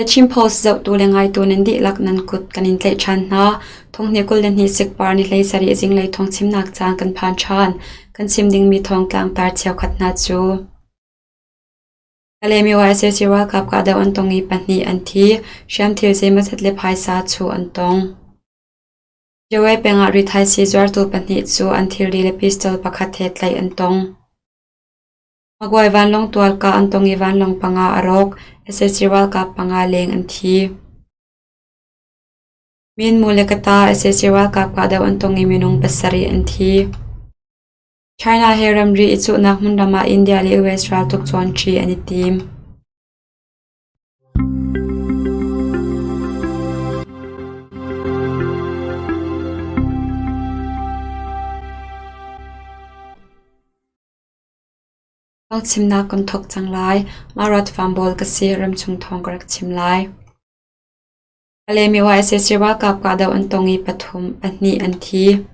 Nachim post zohtu le ngaitu nan dihlak nan kut kan in tlaih ṭhan hna. Thonghni kul le hnih sikpar ni hlei sarih zinglei thong chimnak caan kan phan ṭhan. Kan chim dingmi thong tlangtar cheukhat hna cu Kalemiwa SAC ralkap kahdoh an tong i pahnih an thi. Hriam thil zeimaw-zat le phaisa cu an tong. Yoe pengah ri thaisii zuartu pahnih cu an thilri le pistol pakhat he tlaih an tong. Maguai vanlawng tualka an tong i vanlawng panga a rawk. sac ralkap panga leng an thi. Minmu le Kata sac ralkap kahdoh an tong i minung pasarih an thi. China he ramri i cuhnak hmun ram ah India le US raltuk cawnṭi an i tim. Ka chimnak kan thawk cang lai. Mah rat fam bawl ka si ramchung thawng ka rak chim lai. Alemiwa SSC ralkap kahdoh an tong i pathum, pahnih an thi.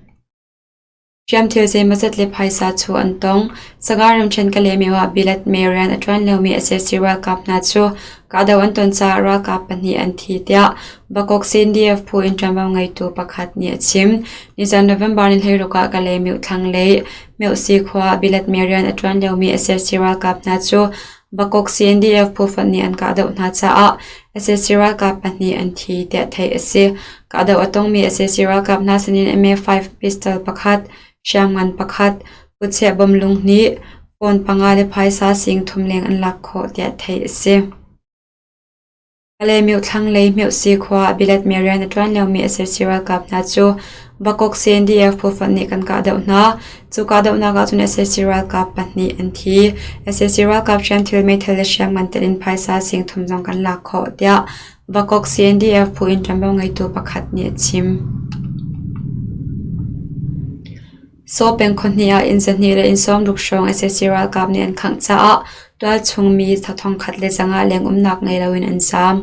Hriam thil zeimazat le phaisa cu an tong. Saga ramṭhen Kalemiwa bilat me rian a ṭuan lomi SSC ralkap hna cu kahdoh an ton caah ralkap pahnih an thi tiah Bakok CNDF phu in ṭuanvo ngeitu pakhat nih a chim. Nizan November ni hleiruk ah Kalemiw thlanglei Meusi khua ah bialet mee rian a ṭuan liomi sac ralkap hna cu Bakok CNDF phu fonh nih an kahdoh hna caah sac ralkap pahnih an thi tiah theih a si. Kahdoh a tongmi sac ralkap hna sinin MA5 pistol pakhat, hriamngan pakhat, kutchiah bom lung hnih, phone panga le phaisa sing thum leng an lak khawh tiah theih a si. A le Myohthlang lei Myohsi khua ah bilatmi rian a ṭuan liomi sac ralkap hna cu Bakok CNDF phuhrangh nih kan kahdoh hna. Cu kahdohnak ahcun sac ralkap pahnih an thi. sac ralkap hriam thil meithal le hriam ngan telh in phaisa singthum zong kan lak khawh, tiah Bakok CNDF phu in ṭuanvo ngeitu pakhat nih a chim. Saw peng khawhnih ah inn zahnih le inn sawm ruk hrawng sac ralkap nih an khangh caah tualchung mi thla thongkhat le zangah lengumnak ngei loin an zaam.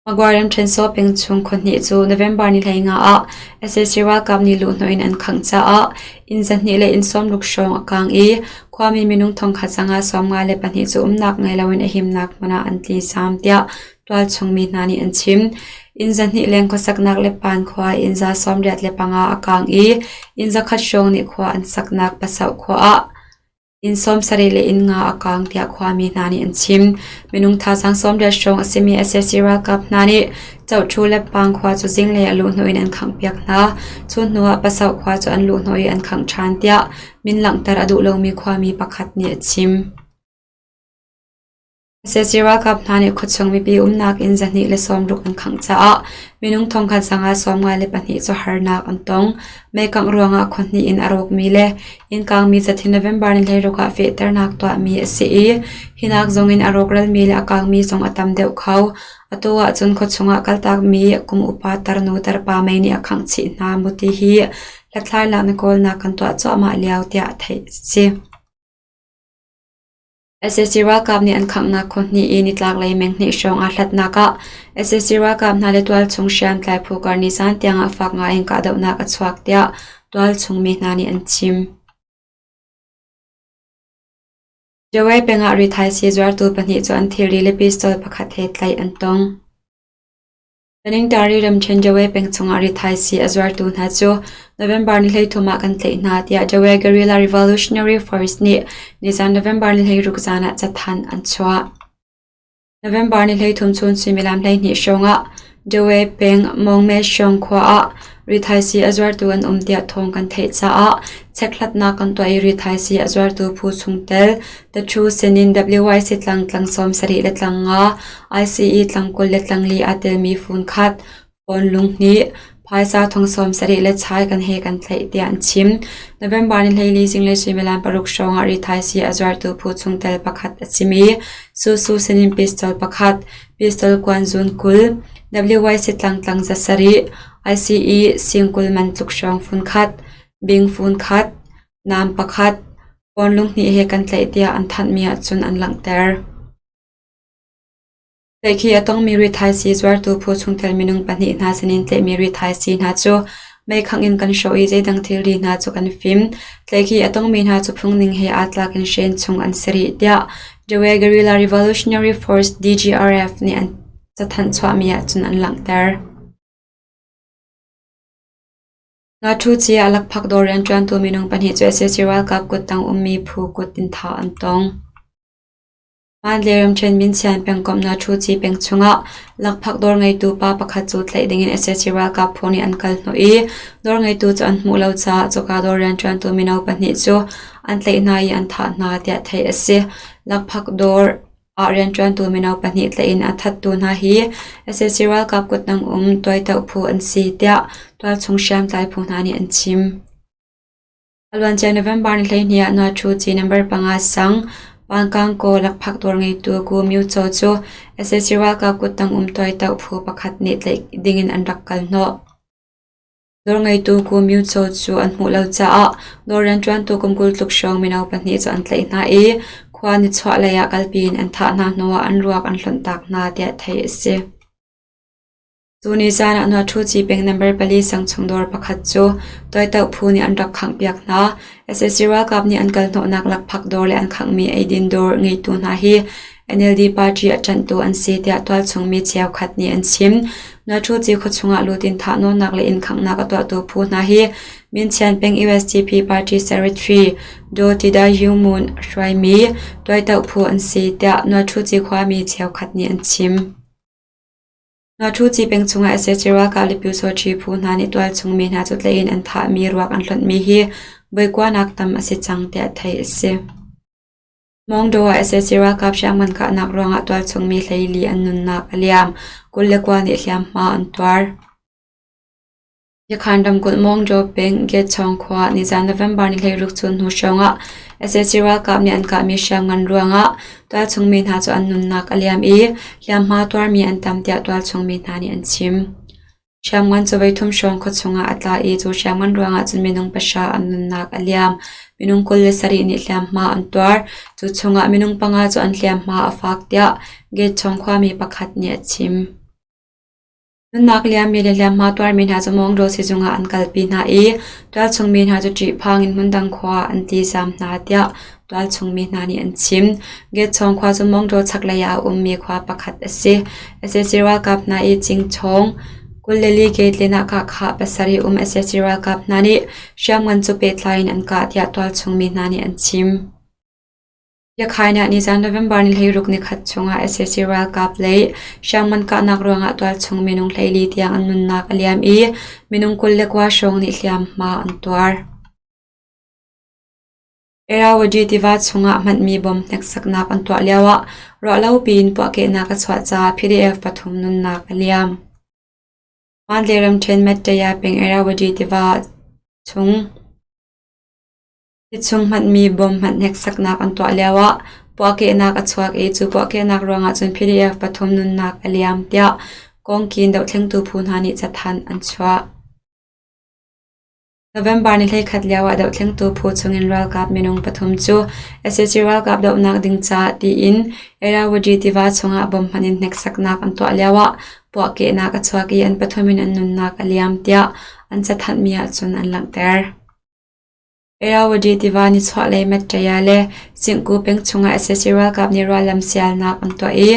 Magwai ramṭhen Saw peng chung khawhnih cu November ni hleingah ah sac ralkap nih luhhnawh in an khangh caah inn zahnih le inn sawm ruk hrawng a kaang i khuami minung thongkhat zangah sawmnga le pahnih cu umnak ngei loin a himnak hmun ah an tli zaam tiah Tualchungmi hna nih an chim. Inn zahnih leng khuasaknak le Pan khua inn za sawmriat le panga a kaang i inn zakhat hrawng nih khua an saknak Pasoh khua ah inn sawmsarih le inn nga a kaang tiah khuami hna nih an chim. Minung thazaang sawmriat hrawng a simi sac ralkap hna nih Chohtu le Pang khua cu zinglei a luh hnu in an khanghpiak hna. Cu hnu ah Pasoh khua cu an luh hnu i an khangh ṭhan tiah min langhter a duh lomi khuami pakhat nih a chim. Sac ralkap hna nih khuachung mipi umnak inn zahnih le sawmruk an khangh caah minung thongkhat zangah sawmnga le pahnih cu harnak an tong. Meikangh ruangah khua hnih in a rawkmi le innkaangmi zathin November ni hleiruk ah fehternak tuahmi a si i hinak zongin a rawkralmi le a kaangmi zong a tam deuh kho. Atu ahcun khuachung ah kaltakmi kum upa tarnu tarpa mei nih a khangh chih hna mu ti hi hlathlainak na kawlnak kan tuah cuahmah lio tiah theih a si. sac ralkap nih an khanghnak khaw hnih i nitlaklei menghnih hrawng aa hlatnak ah sac ralkap hna le tualchung hriamtlai phu kar nizaan tiangah fak ngaiin kahdohnak a chuak tiah tualchung mi hna nih an chim. Jawe pengah rithaisii zuartu pahnih cu an thilri le pistol pakhat he tlaih an tong. Kaningtari ramṭhen Jawe peng chungah rithaisii a zuartu hna cu November ni hleithum ah kan tlaih hna tiah Jawe Guerrilla Revolutionary Force nih nizan November ni hleiruk zan ah cathanh an chuah. November ni hleithum chun suimilam hleihnih hrawngah Jawe peng Mongme-Shong khua ah rithaisii a zuartu an um tiah thawng kan theih caah checkhlatnak kan tuah i rithaisii a zuartu phu chungtel The Thu sin in WYC tlang tlang sawm sarih le tlang nga, ICE tlang kul le tlang li aa telmi funkhat, pawn lunghnih, phaisa thong sawm sarih le chai kan he kan tlaih tiah an chim. November ni hleili zinglei suimilam paruk hrawng ah ri thaisi a zuartu phu chungtel pakhat a si mi, Su Su sin in pistol pakhat, pistol kuan zun kul, WYC tlang tlang za sarih, ICE sing kul man tluk hrawng funkhat, bing funkhat, Naam pakhat, pawnlunghnih he kan tlaih tiah an thanhmi ahcun an langhter. Tlaihkhih a tongmi rithaisi zuartu phu chungtel minung pahnih hna sinin tlaihmi rithaisi hna cu meikhangh in kan hrawh i zeidang thilri hna cu kan fim. Tlaihkhih a tongmi hna cu phungning he aa tlak in Shen chung an si rih tiah Dewe Guerrilla Revolutionary Force DGRF nih an cathanh chuahmi ahcun an langhter. Ngakṭhuci a lakphak dawr rianṭuantu minung pahnih cu sac ralkap kuttang ummi phu kut in thah an tong. Mandalay ramṭhen Minsian pengkomh Ngakṭhuci peng chungah lakphak dawr ngeitu pa pakhat cu tlaih dingin sac ralkap phu nih an kal hnawh i dawr ngeitu cu an hmuh lo caah cuka dawr rianṭuantu mino pahnih cu an tlaih hna i an thah hna tiah theih a si. Lakphak dawr ah rianṭuantu mino pahnih tlaih in a thattu hna hi sac ralkap kutnang um tuaitoh phu an si tiah tualchung hriamtlai phu hna nih an chim. A luancia November ni hleihnih ah Nuathu ci number panga sang Pangkangkaw lakphak tuar ngeitu Gu Myu Chaw cu sac ralkap kuttang um tuaitoh phu pakhat nih tlaih ding in an rak kal hnawh. Nawlngeitu Kum Myitsô cu an hmuh lo caah nawl rianṭuantu kum kul tluk hrawng mino pahnih cu an tlaih hna i khua nichuahlei ah kalpi in an thah hna hnuah an ruak an hlonh taak hna tiah theih a si. Tuni caan ah Nuatṭhu Cipeng number pali sangchung dawr pakhat cu toitoh phu nih an rak khanghpiak hna. SSC ralkap nih an kalhnawhnak lakphak dawr le an khanghmi eidin dawr ngeitu hna hi NLD party a ṭanhtu an si tiah tualchungmi cheukhat nih an chim. Natuzi khuachung ah lut in thahnawnnak le innkhanghnak a tuahtu phu hna hi Minchian peng i USDP party secretary Do Tidayu Moon hruaimi tuaitoh phu an si tiah Natuzi khuami cheukhat nih an chim. Natuzi peng chung ah sac ralkap le pyusawṭhi phu hna nih tualchungmi hna cu tlei in an thahmi ruak an hlonhmi hi boikuanak tam a si cang tiah theih a si. Mawngdaw ah sac ralkap hriamngan kahnak ruangah tualchungmi hleili an nunnak a liam, kul le kua nih hliamhma an tuar. Yakhan ramkulh Mawngdaw peng Getchong khua ah nizaan November ni hleiruk chun hnu hrawngah sac ralkap nih an kahmi hriamngan ruangah tualchungmi hna cu an nunnak a liam i hliamhma tuarmi an tam tiah tualchungmi hna nih an chim. Hriamngan cawvei thum hrawng khuachung ah a tla i cu hriamngan ruangah cun minung pahra an nunnak a liam. Minung kul le sarih nih hliamhma an tuar. Cu chungah minung panga cu an hliamhma a fak tiah gate chung khuami pakhat nih a chim. Nunnak liammi le hliamhma tuarmi hna cu Mongdaw sizung ah an kalpi hna i tualchung mi hna cu ṭihphang in hmundang khua an ti zam hna tiah Ralchungmi hna nih an chim. Getchong khua cu Mongtaw chaklei ah a ummi khua pakhat a si. Sac ralkap hna i Cingchawng, Kuleli Gate-len ah kahkhah pasarih um sac ralkap hna nih hriamngan cu pehtlai in an kah tiah tualchungmi hna nih an chim. Yakhain ah nizan November ni hleiruk nikhat chungah sac ralkap lei hriamngan kahnak ruangah tualchung minung hleili tiang an nunnak a liam i minung kul le kua hrawng nih hliamhma an tuar. Erawudi tiva chungah hmanmi bom hneksaknak an tuah lioah ruahlo piin puahkehnak a chuah caah PDF pathum nunnak a liam. Hmaantlei ramṭhen Mattaya peng Erawudi tiva chung tichung hmanmi bom hmanh hneksaknak an tuah lioah puahkehnak a chuak i cu puahkehnak ruangah cun PDF pathum nunnak a liam tiah Kawngkin dohlengtu phu hna nih cathanh an chuah. November ni hleikhat lio ah dohthlengtu phu chungin ralkap minung pathum cu SAC ralkap dohnak ding caah tiin Irrawaddy tiva chungah bomb hmanh in hneksaknak an tuah lio ah puahkehnak a chuak i an pathum in an nunnak a liam tiah an cathanhmi ahcun an langhter. Irrawaddy tiva nichuahlei Mattaya le Singku peng chungah SAC ralkap nih ruallam sialnak an tuah i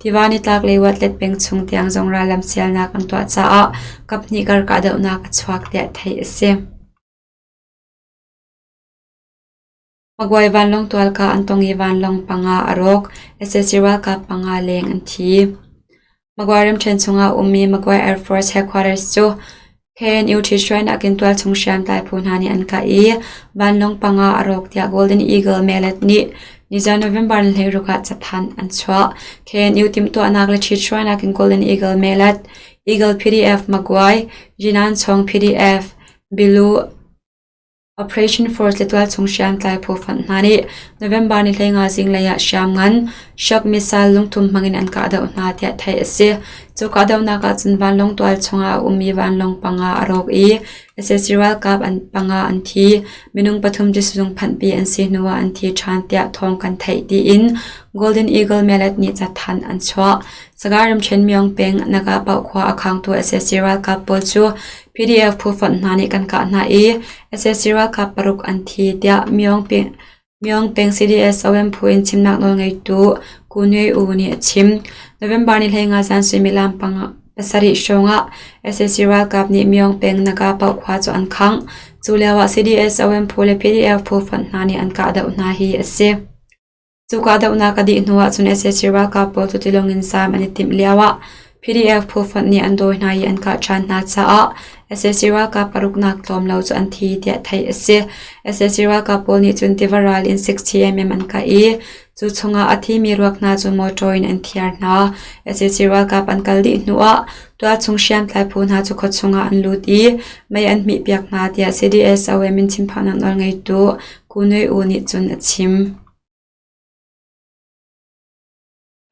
Tiva nitlak le Watlet peng chung tiang zong rallam sialnak an tuah caah kaphnih kar kahdohnak a chuak tiah theih a si. Magwai vanlawng tualka an tong i vanlawng panga a rawk, SSC ralkap panga leng an thi. Magwai ramṭhen chungah ummi Magwai Air Force Headquarters cu he nutrition a kin tual chung hriamtlai phu hna nih an kah i vanlawng panga a rawk tiah Golden Eagle Melet nih nizan November ni hleiruk ah chaphan an chuah the nu timtuahnak le ṭhitsuan akin Golden Eagle Melet Eagle PDF Maguire Jinan Chong PDF Bilu Operation Force Litual chung hriamtlai phawfanh hna nih November ni hleinga zinglei ah hriam ngan shock missile lungthum hmangin an kahdoh hna tiah theih a si. Cu kahdohnak ahcun vanlawng tual chungah a ummi vanlawng panga a rawk i sac ralkap an panga an thi. Minung pathum cu sizung phanhpi an si hnuah an thi ṭhan tiah thawng kan theih tiin Golden Eagle Mallet nih cathanh an chuah. Sagaing ramṭhen Myeong peng Naga Pau khua a khangtu sac ralkap pawl cu PDF phufonh hna nih kan kah hna i sac ralkap paruk an thi, tiah Myaung peng CDS-OM phu in chimnak nawlngeitu Ku Nui U nih a chim. November ni hleinga zan suimilam pasarih hrawngah sac ralkap nih Myaung peng Naga paoh khua cu an khangh. Cu lioah CDS-OM phu le PDF phufonh hna nih an kahdoh hna hi a si. Cu kahdohnak a dih hnu ahcun sac ralkap pawl cu tilawng in sam an i timh lioah PDF phu fonh nih an dawi hna i an kah ṭhan hna caah sac ralkap paruknak tlawm lo cu an thi tiah theih a si. sac ralkap pawl nih cun tiva ral in 60mm an kah i cu chungah a thimi ruak hna cu motor in an thiar hna. sac ralkap an kal dih hnu ah tualchung hriamtlai phu hna cu khuachung ah an lut i mei an hmihpiak hna tiah CDS OM in chimphahnak nawl ngeitu Ku Nui U nih cun a chim.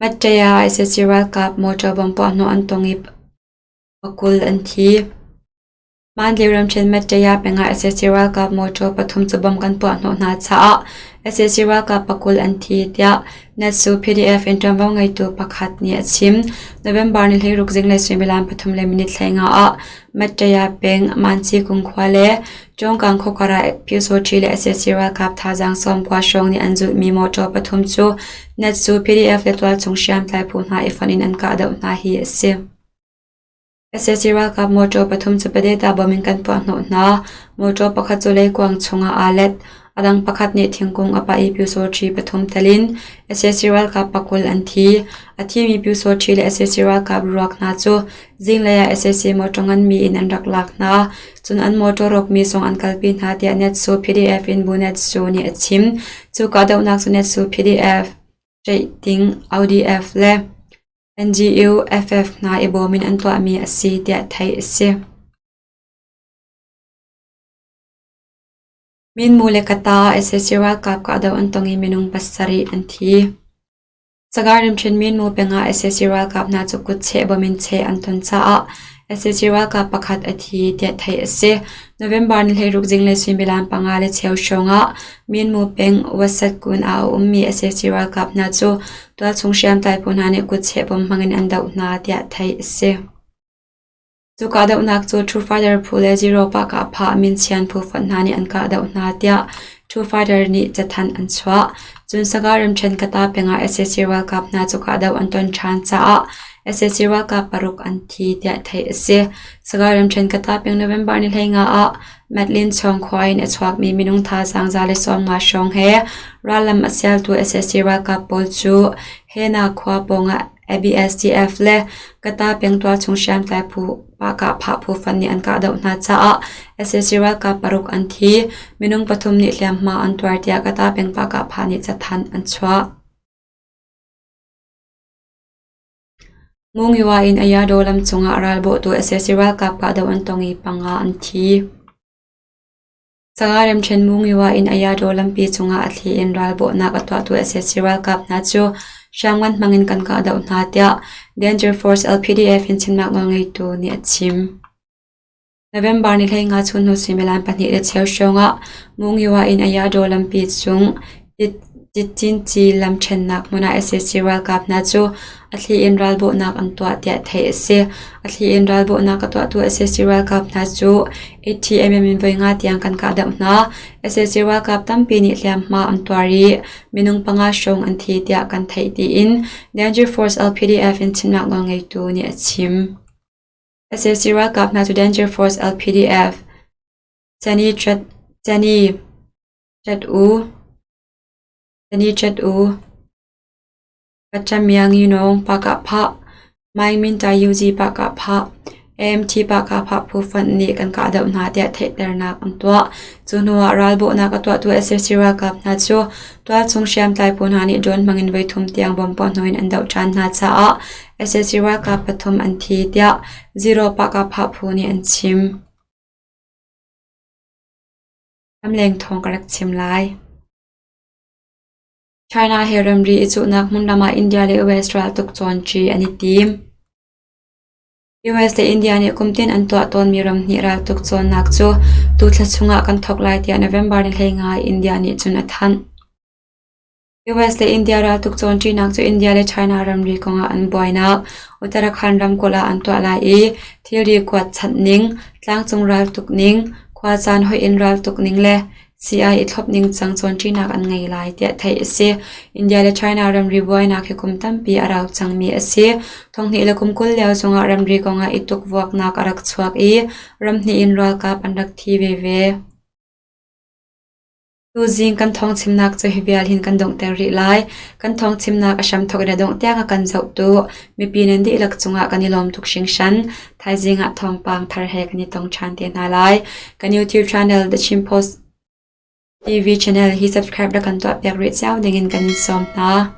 Mattea sac ralkap motor bom puahhnawh an tong i pakul an thi. Mandalay ramṭhen Mattea pengah sac ralkap motor pathum cu bom kan puahhnawh hna caah sac ralkap pakul an thi, tiah NATSU PDF in ṭuanvo ngeitu pakhat nih a chim. November ni hleiruk zinglei suimilam pathum le minit hleinga ah Mattea peng Manci kung khua le Cawngkang khuakara Pyosawṭhi le sac ralkap thazaang sawm kua hrawng nih an zulhmi mawṭaw pathum cu Natsu PDF le tualchung hriamtlai phu hna i fonh in an kah doh hna hi a si. sac ralkap mawṭaw pathum cu Padeta bomb in kan puahhnawh hna. Mawṭaw pakhat cu leikuang chungah aa let. A dang pakhat nih thingkung a pah i Pyosawṭhi pathum tel in sac ralkap pakul an thi. A thimi Pyosawṭhi le sac ralkap ruak hna cu Zinglei ah sac motor nganmi in an rak lak hna, cun an motor rawkmi zong an kalpi hna tiah Netsu PDF in Bu Netsu nih a chim. Cu kahdohnak cu Netsu PDF, Rating, ODF le NGU FF hna i bawm in an tuahmi a si tiah theih a si. Minmu le Kata sac ralkap kahdoh an tong i minung pasarih an thi. Sagar rimṭhutmi nu pengah sac ralkap hna cu kutcheh bom in cheh an ton caah sac ralkap pakhat a thi tiah theih a si. November ni hleiruk zing le suimilam panga le cheu hrawngah Minmu peng Wasatkun ah a ummi sac ralkap hna cu tualchung hriamtlai phu hna nih kutcheh bom hmang in an doh hna tiah theih a si. Cu kahdohnak cu True Fighter phu le Zero Park ah phah minchian phu fonh hna nih an kahdoh hna tiah True Fighter nih cathanh an chuah. Cun Saga Remṭhen Kata pengah SAC ralkap hna cu kahdoh an ton ṭhan caah SAC ralkap paruk an thi tiah theih a si. Saga Remṭhen Kata peng November ni hleinga ah Madeleine Chawng khua in a chuakmi minung thazaang za le sawmnga hrawng he rallam a sialtu SAC ralkap pawl cu Hena khua pawngah ABSDF le Kata pengtual chung hriamtlai phu Pahkah phah phu fan nih an kah doh hna caah sac ralkap paruk an thi. Minung pathum nih hliamhma an tuar tiah Kata peng Pahkah pha nih cathanh an chuah. Mungyawa in Ayado lam cungah ralbawhtu sac ralkap kahdoh an tong i panga an thi. Sanga Remṭhen Mungyowa in Ayadaw lampi cungah a thli in ralbawhnak a tuahtu sac ralkap hna cu hriamngan hmangin kan kahdoh hna tiah Danger Force LPDF in chimnak nawlngeitu nih a chim. November ni hleinga chunhnu suimilam pahnih le cheu hrawngah Mungyowa in Ayadaw lampi chung Yatintyi lam ṭhennak hmun ah sac ralkap hna cu a thli in ralbawhnak an tuah tiah theih a si. A thli in ralbawhnak a tuahtu sac ralkap hna cu ATMM in voi nga tiang kan kahdoh hna. Sac ralkap tampi nih hliamhma an tuar i minung panga hrawng an thi tiah kan theih tiin Danger Force LPDF in chimnak nawlngeitu nih a chim. Sac ralkap hna cu Danger Force LPDF, Chani ṭet u. Pacamianginawng pakah phah, Maimintayuzi pakah phah, AMT pakah phah phu fonh nih kan kah doh hna tiah theihternak an tuah. Cu hnuah ralbawhnak a tuahtu SSC ralkap hna cu tualchung hriamtlai phu hna nih drone hmangin voithum tiang bom puah hnuin an doh ṭhan hna caah SSC ralkap pathum an thi tiah Zero pakah phah phu nih an chim. China he ramri i cuhnak hmun lam ah India le US raltuk cawnṭi an i tim. US le India nih kumtin an tuah tawnmi ramhnih raltuk cawnnak cu tu thla chung ah kan thawk lai tiah November ni hleingai India nih cun a thanh. US le India raltuk cawnṭinak cu India le China ramri kongah an buainak, Uttarakhand ramkulh ah an tuah lai i thilri kuat chanh ning, tlangcung raltuk ning, khuacaan hoih in raltuk ning le sii-ai i thlop ningcang cawnṭinak an ngei lai tiah theih a si. India le China ramri buainak hi kum tampi a rau cangmi a si. Thonghnih le kum kul lio zongah ramri kongah i tukvuaknak a rak chuak i ramhnih in ralkap an rak thi veve. Tuzing kan thawngchimnak cahi vial hin kan donghter rih lai. Kan thawngchimnak a hramthawk in a dongh tiang a kan zoh tu mipi nan dihlak cungah kan i lawm tuk hringhran. Thaizing ah thawngpang thar he kan i tong ṭhan te hna lai. Kan YouTube channel The Chin Post TV channel hi subscribe na kan tuah piak rih cio ding in kan in sawm hna.